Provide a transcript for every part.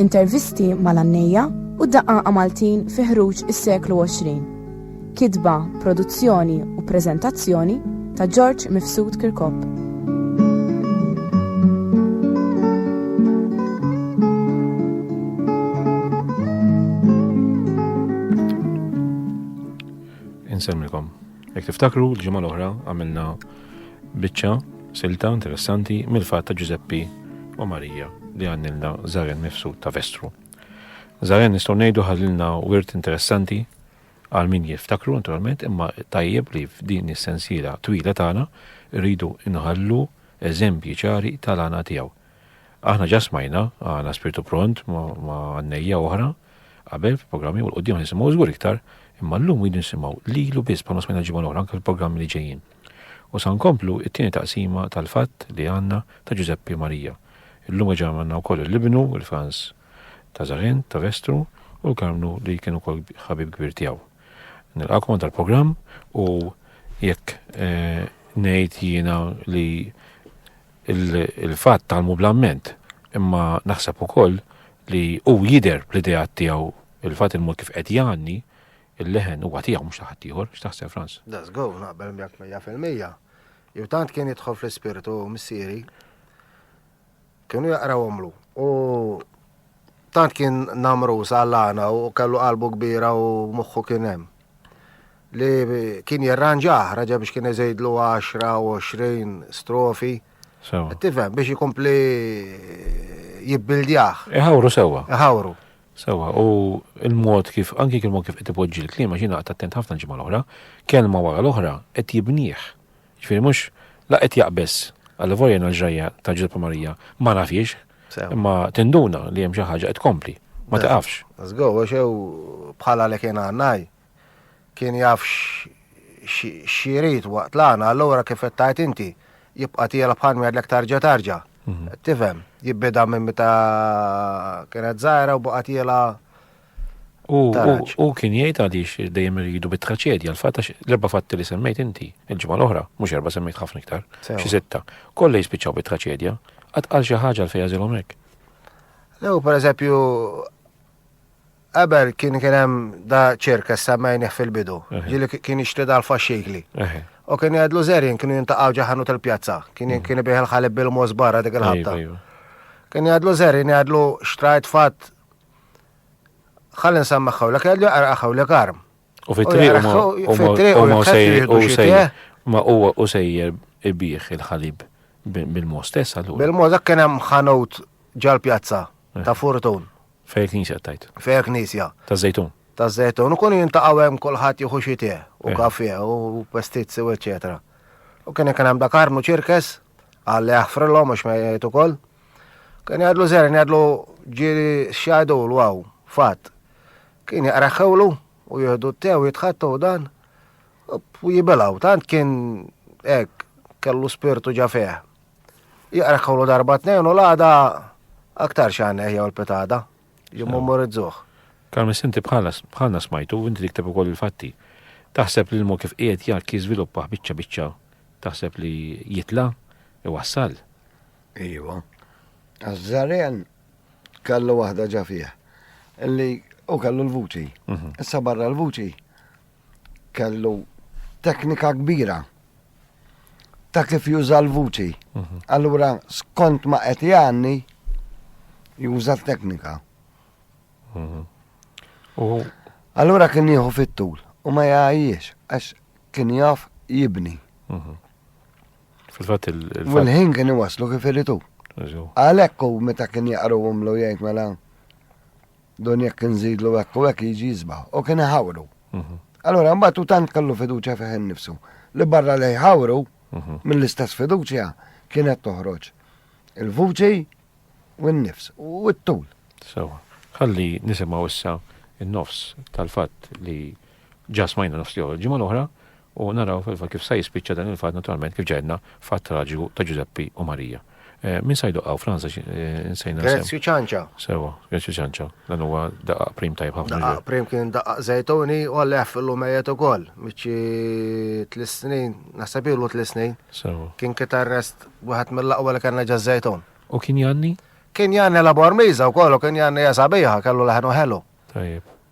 Intervisti mal-għannejja u d-daqqaqa Maltin fi ħruġ is-seklu 20. Kitba, produzzjoni u preżentazzjoni ta' George Mifsud Kirkop. Insemmilkom. Jek tiftakru, l-ġimgħa l-oħra għamilna Biċċa silta interessanti mill-fatt ta' Ġużeppi u Marija li għannilna Zaren mifsud ta' Vestru. Zaren nistgħu ngħidu ħallilna wirt interessanti għal min jiftakru naturalment imma tajjeb li f'din is-sensiela twila tagħna rridu nħallu eżempji ċari tal-għana tiegħu. Aħna ġa smajna, għana spirtu pront ma' għannejja oħra, qabel fil-programmi u l-qoddim nisimgħu żgur iktar, imma llum rridu nisimgħu lilu biss bħalma smajna ġimgħa l-oħra anke fil-programmi li ġejjin. U sa nkomplu t-tieni taqsima tal-fatt li għandna ta' Ġużeppi Marija. Illum reġa' għandna wkoll il-ibnu, il-Frans ta' Żarent, ta' Vestru, u l-Karmnu li kien ukoll ħabib kbir tiegħu. Nilqakom għandha l-programm u jekk eh, ngħid jiena li il-fatt tgħallmu bl-amment, imma naħseb ukoll li hu jidher bl-ideat tiegħu il-fatt il-mod kif qed jgħanni, il-leħen huwa tiegħu mhux ta' ħaddieħor, x'taħseb Frans? Da żgur, naqbel miegħek mija fil-mija. Jew tant kien jidħol fl-ispirtu missieri, kienu jaqrawhomlu u Tant kien namrus għall-għana u kellu qalbu kbira u moħħu kien hemm. Li kien jirranġah, raġa biex kien iżejdlu 10 u 20 strofi. Sewa. Tifhem biex ikompli jibbildjah. Iħawru sewa. Iħawru. Sewa, u il-mod kif, anki kien mod kif qed ipoġġi l-klima, xi naqta' attent ħafna l-ġimgħa l-oħra, kelma wara l-oħra qed jibnieh. Ġifieri mhux la qed jaqbeż għall-volja jien l-ġrajja ta' Ġużeppa Marija ma nafhiex, imma tinduna li hemm xi ħaġa qed tkompli, ma tiqafx. Żgur, għax jew bħala li kien għannaj, kien jaf x'jrid waqt l-għana, allura kif qed tgħid inti, jibqa' tiela bħal min jgħidlek tarġa' tarġa'. Tifhem, jibbieda minn meta kienet żgħira u baqgħet tiela U u kien jgħid għaliex dejjem irridu bit-traċedja, l-fatt għax l-erba' fatti li semmejt inti, il-ġimgħa l-oħra, mhux erba' semmejt ħafna iktar, xi sitta, kollha jispiċċaw bit-traċedja, qatt qal xi ħaġa fejn jażilhom hekk. Lew pereżempju qabel kien kien hemm da ċirka semmejnih fil-bidu, ġili kien jixtri dal-faxxikli. U kien jgħidlu żerin kienu jintaqgħu ġaħanu tal-pjazza, kien mm. kien bih il-ħalib bil-mos barra dik il-ħabta. Kien jgħidlu żerin jgħidlu xtrajt fatt Ħalli nsammaħ hawnlek kellu jaqra hawnlek arm. U fit-triq huma u sejjer. Ma huwa u sejjer ibih il-ħalib bil-mo stess allura. Bil-mo dak kien hemm ħanut ġal-pjazza eh. ta' Fortun. Fejn knisja tajt. Fejn knisja. Ta' żejtun. Ta' żejtun. U kun jintaqgħu hemm kulħadd jieħu xi u eh. kafje u pestizzi u eċetera. U kien hemm dak armu ċirkes Għalli jaħfrilhom mhux ma jgħid ukoll. Kien jgħadlu żerin jgħadlu ġieli x'jgħidu l waw, fatt. Kien jaqra xewlu u jieħdu t-tew jitħattu dan u jibilaw, tant kien hekk kellu spirtu ġa fih. Jaqra xewlu darba tnejn u l-għada aktar xan eħja l-pitada. Li momorizzuh. Karmis inti bħalna smajtu u inti tikteb ukoll il-fatti. Taħseb li l-mod kif qiegħed jak jiżviluppaħ biċċa biċċa taħseb li jitla' iwassal. Iva. Għaż-żaren kellu waħda ġa fih. Illi u kellu l-vuċi. Mhm. Issa barra l-vuċi kellu teknika kbira ta' kif juża l-vuċi. Mhm. Allura, skont ma qed jgħanni, juża t-teknika. Mhm. Allura kien jieħu fit-tul u ma jgħajjiex għax kien jaf jibni. Mhm. Fil-fatt il ħin kien iwaslu kif iritu. Għalhekk u meta kien jaqru umlu jgħid mela Dun jekk inżidlu hekk u hekk jiġi jisbaħ u kien iħawru. Mhm. Allura mbagħad u tant kellu fiduċja fih innifsu li barra li jħawru mhm. mill-istess fiduċja kienet toħroġ il-vuċi u n-nifs u t-tul. Sewa, ħalli nisimgħu issa n-nofs tal-fatt li ġasmajna nofs li ġimgħa l-oħra U naraw fil-fatt kif sa jispiċċa dan il-fatt naturalment kif ġegħedna fatt traġiku ta' Ġużeppi u Marija. Eh, min sa jdoqqaw Franza eh, insejna. Grezju ċanċa. Sewa, Grezju ċanċa. Dan huwa daqqa prim tajb ħafna. Daqqa prim kien daqqa zejtoni u għallef l mejet ukoll. Miċi tlis snin, naħseb ilu tlis snin. Sewa. Kien kit arrest wieħed mill-aqwa li kellna ġa zejton. U kien janni? Kien janni la bormiza u kollu kien janni jasabiħa kellu leħnu ħelu. Tajjeb.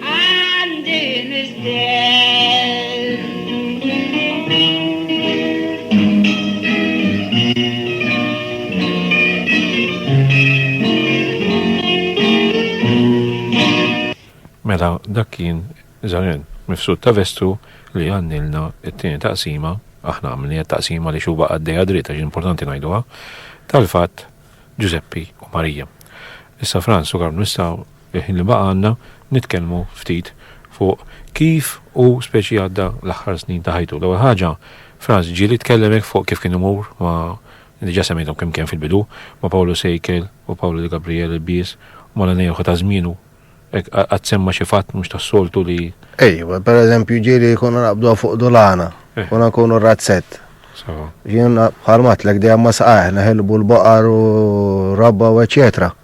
Għandi mistenn. Mela dak kien Zaren, mifsud ta' vestu li għannilna it-tieni taqsima, aħna għamilni taqsima li xuba għaddeja dritt għax importanti ngħiduha, tal-fatt Ġużeppi u Marija. Issa Franz u Karmnu nistgħu Fil-ħin li baqgħalna, nitkellmu ftit fuq kif hu speċi għadda l-aħħar snin ta' ħajtu. L-ewwel ħaġa, Franz Gilli tkellem hekk fuq kif kien imur ma', diġà semmejthom kemm kemm fil-bidu, ma' Pawlu Sejkel u Pawlu De Gabriel ilbies u mal-għenejħu ta' żmienu. Hekk qatt semma xi fatt mhux tas-soltu li. Ejwa, pereżempju ġieli konna naqbduha fuq dulana, konna nkunu razzett. Jiena bħalma għedtlek dejjem ma' saqajh neħilbu l-baqar u r-rabba u eċċetera.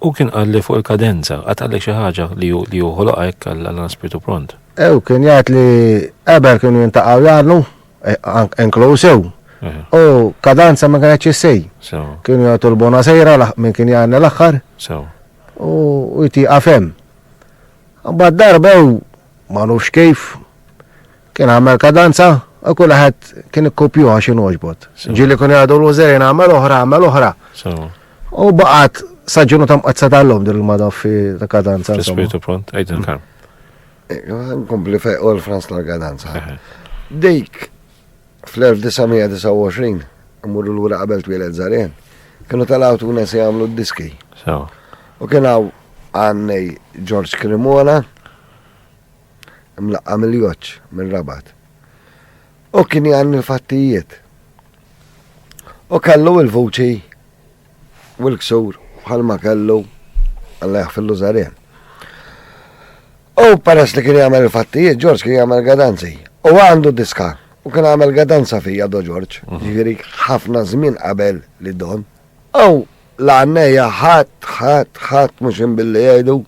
Hu kien qal li fuq il-kadenza, qatt qallek xi ħaġa li hu li hu ħoloqha hekk għal għal spirtu pront? Hu kien jgħid li qabel kienu jintaqgħu jagħdnu, eh, ank- inkluż hu, Eh, u kadanza ma kienetx issej. So, Kienu jagħtu l-bona sejra laħ- minn kien jgħanna l-aħħar so. u u jtiqa fem. Mbagħad darba hu ma nafx kif Kien għamel kadanza, u kull ħed kien ikkupju għax inogħġbot. Ġili kun jgħadu l-użerin għamel oħra, għamel oħra. U baqat saġġunu tam qazza tal-lum din il-mada fi ta' kadanza. Spiritu pront, għajt il-karm. Kompli fej u l-Frans tal-kadanza. Dik, fl-1929, mmur l-ura qabel twilet zarjen, kienu tal-għawtu nes jgħamlu d-diski. U kien għaw għannej George Cremona, mlaqqa mill-joċ, mir-rabat. U kien jgħanni l-fattijiet. U kellu il-vuċi u l-ksur bħal ma kellu għalla jaħfillu zarien. U peress li kien jgħamil il-fattijiet, Ġorġ kien jgħamil gadanzi. U għandu diska. U kien għamil gadanza fija do Ġorġ. Mhm. Ġifiri ħafna żmien qabel li don. U l-għanneja ħat, ħat, ħat, mux billi jgħidu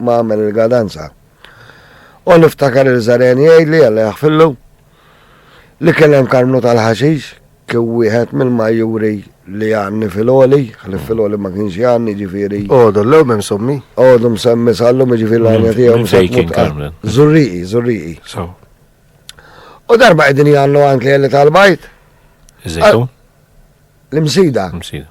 ma għamel il-gadanza. U niftakar il-żaren jgħidli għalla jaħfillu li kien hemm karmnu tal-ħaxix kien wieħed mill-majjuri li għanni fil-oli, għalli fil-oli ma kienx għanni ġifiri. Odu, l-lew mem sommi? Odu msemmi sallu ġifiri l-għanja tijaw msemmi. Zurriqi, zurriqi. U darba għedin jgħallu għank li għalli tal-bajt? L-imsida. L-imsida.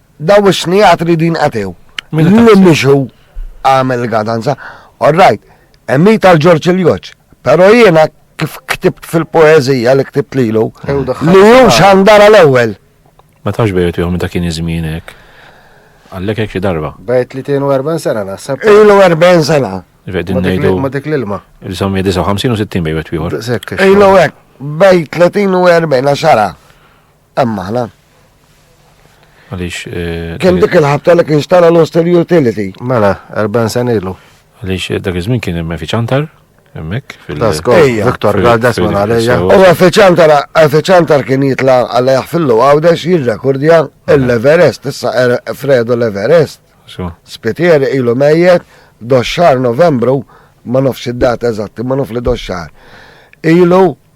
Daw is-snijat ridu jinqatew. Li mhix hu għamel gadanza. All right, emmi tal-Ġorġ il-Joċ. Pero jiena kif ktibt fil-poezija li ktibt lilu, li hu xandara l-ewwel. Ma tafx bejt jom ta' kien iż-żmien hekk. Għallek hekk xi darba. Bejt li 42 sena naħseb. Ilu 40 sena. Vedin nejdu. Ma dik l-ilma. Il-sommi 59 u 60 bejt wieħor. Ilu hekk, bejt 30 u 40 xara. Hemm aħna. Għaliex. Eh, kien dik il-ħabta li kien xtara l-hostel utility. Mela, 40 sen ilu. Għaliex eh, dak iż-żmien kien hemm fiċantar. Emmek, fil-Viktor Galdas ma għalija. U għafeċantar, għafeċantar kien jitla għalajħ fil-lu għawdex jirrekordja l-Everest, issa er- Fredo l-Everest. Spitieri ilu mejjet, doxxar novembru, ma nofx id-data eżatti, ma nofx li doxxar. Ilu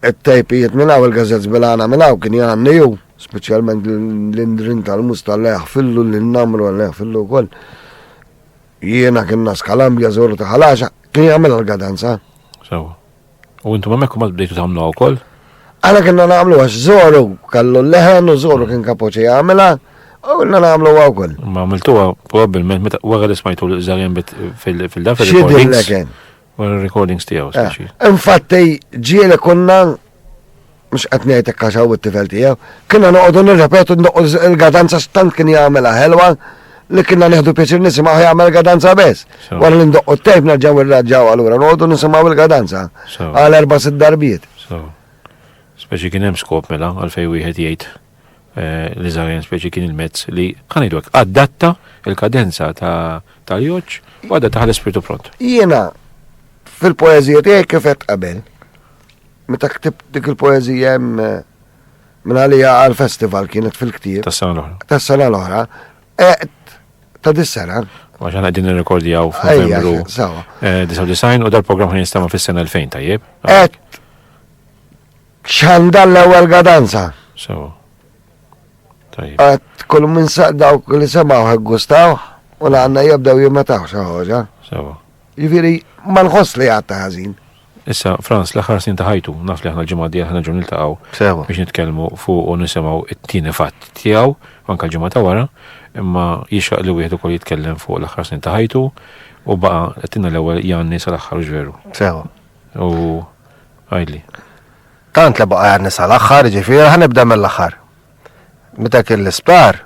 It-tejpijiet minn hawn, il-gażettes bil-għana minn hawn kien jgħanni hu, speċjalment l-indrin tal-musta li jaħfillu lil namru li jaħfillu wkoll. Jiena kien nas kalambja żoru ta' ħalaxa, kien jagħmilha l-gadanza. Sewa. U intom hemmhekk ma bdejtu tagħmlu wkoll? Għana kienna nagħmlu għax żoru kallu leħen u żoru kien kapoċi jagħmilha u kienna nagħmlu għaw koll. Ma għamiltuha probabbilment meta wara li smajtu l-żarjen fil-dafel. Xidillek Wara recordings tiegħu eh, speċi. Infatti ġiele konna mhux qed ngħid hekk għax it-tifel tiegħu, kienna noqogħdu nirrepetu l-gadanza stant kien jagħmilha ħelwa li kienna neħdu pjaċir nisimgħu jagħmel gadanza bes. Wara li ndoqqu t-tejp nerġgħu irraġġaw allura noqogħdu nisimgħu il-gadanza għal erba' sitt darbiet. Speċi kien hemm skop mela għalfej wieħed jgħid l-iżgħarin speċi kien il-mezz li ħanejdu hekk adatta il-kadenza tal-joġġ u għadda taħal ispirtu pront. Jiena fil-poeżija tiegħi kif qed qabel. Meta ktibt dik il-poeżija hemm eh, minn għalija għal festival kienet fil-ktieb. Tas-sena l-oħra. Tas-sena l-oħra. Qed ta' dis-sena. Għax għana għedin nirrekordjaw f'Novembru. Sawa. Eh, Disaw design u dal-programm ħin jistama fis-sena 2000 tajjeb. Qed Xandall l-ewwel gadanza. Sewa. Tajjeb. Għat kull minn dawk li semaw gustaw u la għanna jibdew jimmetaw xi ħoġa. Sewa. Jifieri ma nħoss li għatta ħażin. Issa, Franz, l-aħħar snin ta' ħajtu, naf li aħna l-ġimgħa di aħna ġun niltaqgħu Sewa. biex nitkellmu fuq u nisimgħu it-tieni fatt tiegħu, anke l-ġimgħa ta' wara, imma jixraq li wieħed ukoll jitkellem fuq l-aħħar snin ta' ħajtu u baqa' qed tinna l-ewwel Janni sal-aħħar ġveru. Sewa. U għajli. Tant li baqa għarni sal-axħar, ġifiri, ħanibda mill-axħar. Meta kien l-isptar,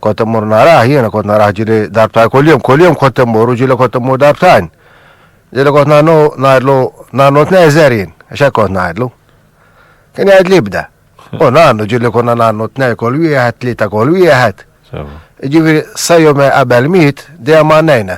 kont immur naraħ, jiena kont naraħ ġili darbtajn kull-jum, kull-jum kont immur u ġili kont immur darbtajn. Ġili kont nannu, najdlu, nannu t-nezer jien, xe kont najdlu. Kien jgħid li bda. U nannu ġili konna nannu t-nej kol wieħed, tlita kol wieħed. Ġifiri, sajju me qabel mit, dejjem għannejna.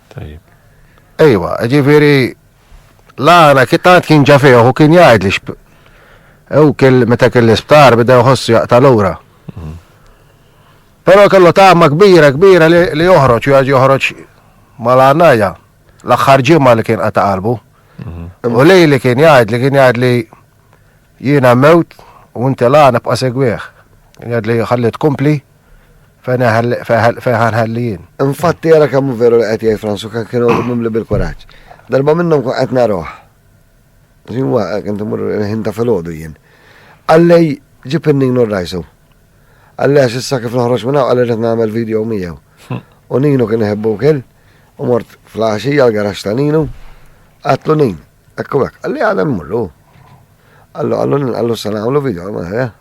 Tajjeb. Ejwa, ġifieri l-għana kien tant kien ġa fih u kien jgħid li Ew kell meta kell isptar bida jħossu jaqta' lura. Mhm. Però kellu tagħma kbira kbira li joħroġ u joħroġ mal-għanajja l-aħħar ġimgħa li kien qata' qalbu. Mhm. U lej li kien jgħid li kien jgħid li jiena mewt u inti lana bqa' segwieħ. Jgħid li ħalli tkompli fejn ħanħellijin. Infatti jara kemm veru li qed jgħid Fransu kan kienu mimli bil-kuraġġ. Darba minnhom kun qed naruh. Jinwa kien timur ħin ta' filgħodu jien. Għallej ġib in-ninu rajsu. Għallej għax issa kif noħroġ minn hawn qal nagħmel video miegħu. Hm. U ninu kien iħebbu kien u mort fl-għaxija l-garax ta' ninu għatlu nin. Ekku għek, għalli għadem murru. Għallu għallu għallu s-sana għallu video għallu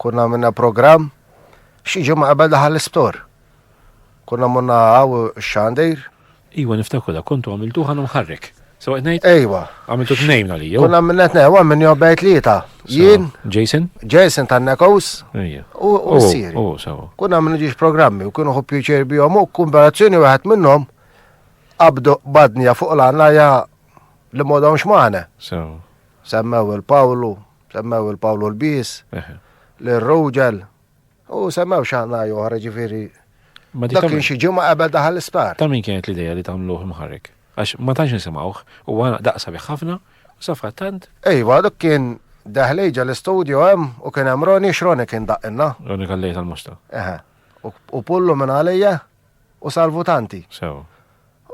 Kunna minna program, xi ġimgħa qabel daħal l-isptor. Kunna munna għaw xandir. Iwa niftakru da kontu għamiltu ħana mħarrek. Sewa ngħid? Ejwa. Għamiltu tnejn li jew. Kunna minna tnejn, għam minn jobbej tlieta. Jien. Jason? Jason tan nekos. U oh, sir. U oh, sewa. Kunna minna ġiex programmi u kienu ħob pjuċer bihom u kumberazzjoni wieħed minnhom qabdu badnja fuq l-għanna ja li modhomx maħna. Sewa. Semmew il-Pawlu, Semmew il-Pawlu l-Bis, l-Rogel, u semmew xaħna joħra ġifiri. Dak kien xi ġimgħa qabel daħal l-isptar. Ta' min kienet l-idea li tagħmluh mħarrek? Għax ma tantx nisimgħuh u għana daqsa bih ħafna u safra tant. Ejwa, dak kien daħlejġa l-istudio hemm u kien hemm Roni x'Roni kien daqqinna. Roni kallej tal-musta. Eħe. U pullu minn għalija u salvu tanti. Sew.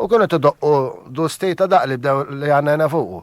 U kienu t-doqqu du stejta daqli bdew li għanna fuqu.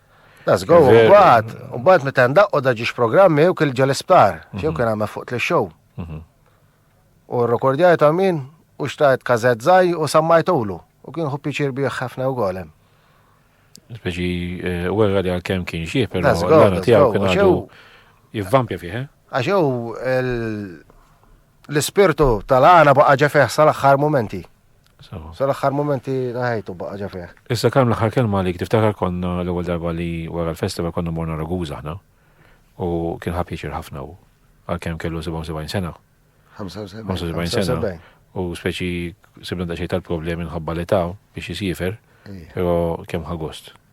Let's go, Veru. mbagħad, mbagħad meta ndaqqu da ġiex programmi jew kien ġol isptar, jew kien għamel fuq li show. U r-rekordjaj ta' min u xtajt kazet zaj u sammajtulu. U kien hu piċir bih ħafna u golem. Speċi, eh, u għarra li għal-kem kien xie, pero Let's go, l-għana let's tijaw go. kien Għax għadu jew- jivvampja fih, eh? Għax jew il- L-ispirtu tal-għana baqa ġa fih sal-aħħar momenti. Sal-aħħar momenti ta' ħajtu baqa ġa fih. Issa kemm l-aħħar kelma li tiftakar konna l-ewwel darba li wara l-festival konna morna Raguża aħna u kien ħab jiċir ħafna u għalkemm kellu 77 sena. 75 sena. U speċi sibna daċċej tal-problemi nħabba li ta' biex jisifer, pero kemm ħagost.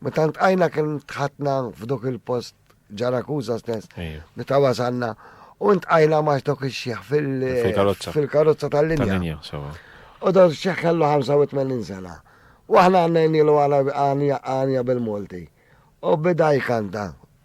Meta ltqajna kien tħattna f'dok il-post ġarakuza stess. Meta wasalna u ntqajna max dok ix-xieħ fil-karozza tal-linja. U dok ix-xieħ kellu 85 sena. U aħna għandna jnilu għanja bil-Malti. U bida jkanta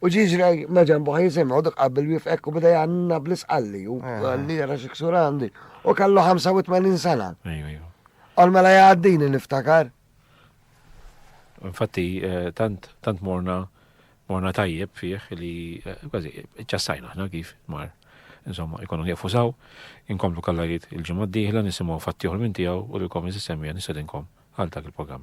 U ġie ġra ma' ġenbu ħaj jisimgħu dak qabel wieqf hekk u beda jgħanna bl-isqalli u Eh. għalli jara xi ksur għandi. U kellu 85 sena. Ejju, ejju. Għal mela jgħaddini niftakar. Infatti, eh, tant, tant morna, morna tajjeb fih li eh, kważi ċassajna ħna kif mar. Insomma, ikonu nieqfu saw, inkomplu kallajiet il-ġimgħa d-dieħla nisimgħu fatti oħra minn tiegħu u lilkom iżis semmija nisedinkom għal dak il-programm.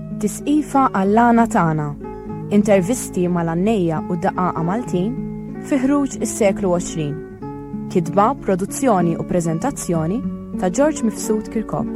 Tisqifa għall-għana tagħna, intervisti mal-għannejja u daqaqqa Maltin fi ħruġ is-seklu 20. Kitba, produzzjoni u preżentazzjoni ta' George Mifsud Kirkop.